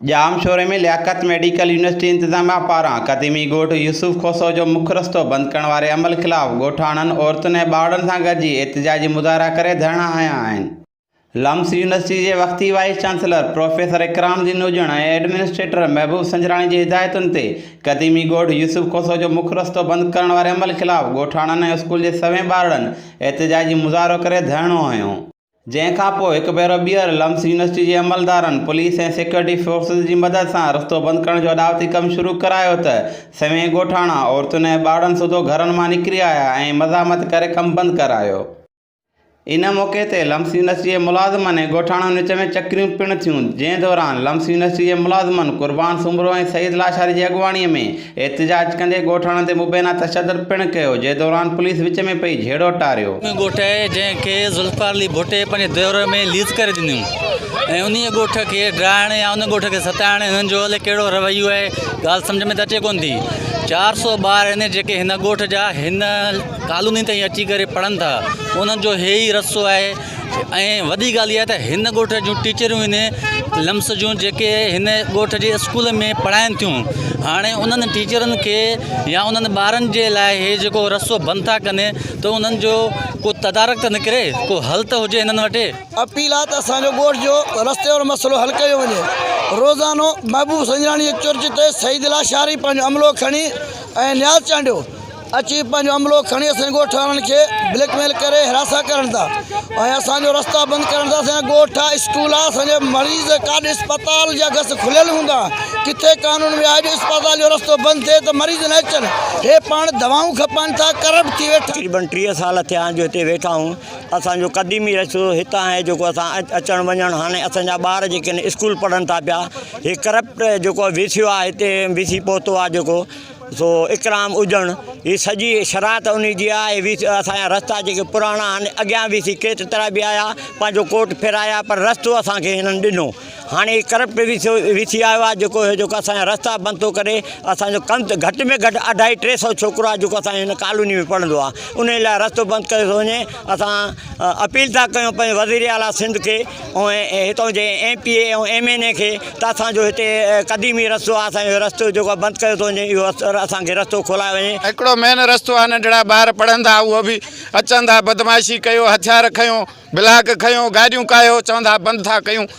ڄام شوري ۾ Liaquat medical university انتظاميا پاران قديمي ڳوٺ يوسف کوسو جو مک رستو بند ڪرڻ واري عمل خلاف ڳوٺاڻن، عورتن ۽ ٻارڙن سان گڏجي احتجاجي مظاهرا ڪري ڌرڻا هنيا آهن. لمس يونيورسٽي جي وقتي وائيس چانسلر پروفيسر اڪرام الدين نوجڻ ۽ ايڊمنسٽريٽر محبوب سنجراڻي جي هدايتن تي قديمي ڳوٺ يوسف کوسو جو مک رستو بند ڪرڻ واري عمل خلاف ڳوٺاڻن ۽ اسڪول جي سوين ٻارڙن احتجاجي مظاهرو ڪري ڌرڻو هنيو. جنهن کان پوء هڪ ڀيرو ٻيهر لمس يونيورسٽي جي عملدارن پوليس ۽ سيڪيورٽي فورسز جي مدد سان رستو بند ڪرڻ جو اڏاوتي ڪم شروع ڪرايو ته سوين ڳوٺاڻا عورتن ۽ ٻارڙن سوڌو گهرن مان نڪري آيا ۽ مزاحمت ڪري ڪم بند ڪرايو. ان موقعي تي لمس يونيورسٽي جي ملازمن ۽ ڳوٺاڻن وچ ۾ چڪريون پڻ ٿيون جنهن دوران لمس يونيورسٽي جي ملازمن قربان سومرو ۽ سعيد لاشاري جي اڳواڻي ۾ احتجاج ڪندي ڳوٺاڻن تي مبينا تشدد پڻ ڪيو جنهن دوران پوليس وچ ۾ پئي جهيڙو ٽاريو. ان ڳوٺ جنهن کي ذوالفقار علي ڀٽي پنهنجي دور ۾ ليز ڪري ڏنو ۽ انهيء ڳوٺ کي ڊاهڻ يا ان ڳوٺ کي ستائڻ هنن جو الئي ڪهڙو رويو آهي ڳالهه سمجهه ۾ ته اچي ڪونه ٿي چار سؤ ٻار آهن جيڪي هن ڳوٺ جا هن ڪالوني تائين اچي ڪري پڙهن ٿا انهن جو هي ئي رستو آهي ۽ وڏي ڳالهه اها آهي ته هن ڳوٺ جون ٽيچريون هن لمس جون جيڪي هن ڳوٺ جي اسڪول ۾ پڙهائن ٿيون هاڻي انهن ٽيچرن کي يا انهن ٻارن جي لاء هي جيڪو رستو بند ٿا ڪن ته انهن جو ڪو تدارڪ ته نڪري ڪو حل ته هجي هنن وٽ اپيل آهي ته اسان جو ڳوٺ جو رستي وارو مسئلو حل ڪيو وڃي روزانو محبوب سنجراڻي جي چرچ تي سعيد لاشاري پنهنجو عملو کڻي ۽ نياز چانڊيو اچي پنهنجو عملو کڻي اسان جي ڳوٺ وارن کي بليڪ ميل ڪري حراسان ڪرن ٿا ۽ اسان جو رستا بند ڪرن ٿا اسان جا ڳوٺ آ اسڪول آ اسان جا مريض ڪاڏ اسپتال جا گس کليل هوندا ڪٿي قانون ۾ آهي جو اسپتال جو رستو بند ٿئي ته مريض نه اچن هي پاڻ دوائون کپائن ٿا ڪرپٽ ٿي ويٺا تقريبن ٽيهه سال ٿيا آهن جو هتي ويٺا آهيون اسان جو قديمي رستو هتان آهي جيڪو اسان اچڻ وڃڻ هاڻي اسان جا ٻار جيڪي آهن اسڪول پڙهن ٿا پيا هي ڪرپٽ جيڪو وسيو آهي هتي وسي پهتو آهي جيڪو سو اڪرام اجڻ هي سڄي شرائط انهي جي آ اي ويس اسان جا رستا جيڪي پراڻا آهن اڳيان ويسي ڪيت ترا به آيا پنهنجو ڪوٽ ڦيرايا پر رستو اسان کي هنن ڏنو هاڻي هي ڪرپٽ ويسو ويسي آيو آ جيڪو هي جيڪو اسان جا رستا بند ٿو ڪري اسان جو ڪم ته گهٽ ۾ گهٽ اڍائي ٽي سو ڇوڪرو آ جيڪو اسان جي هن ڪالوني ۾ پڙهندو آ انهي لاء رستو بند ڪيو ٿو وڃي اسان اپيل ٿا ڪيون پنهنجي وزير اعليٰ سنڌ کي ۽ هتان جي M P A ۽ M N A کي ته اسان جو هتي قديمي رستو آهي اسان جو رستو جيڪو آهي بند ڪيو ٿو وڃي اهو اسان کي رستو کولائي وڃي. هڪڙو مين رستو آهي ننڍڙا ٻار پڙهن ٿا اهو به اچن ٿا بدمعاشي ڪيو هٿيار کنيو بلاڪ کنيو گاڏيون ڪاهيو چون ٿا بند ٿا ڪيون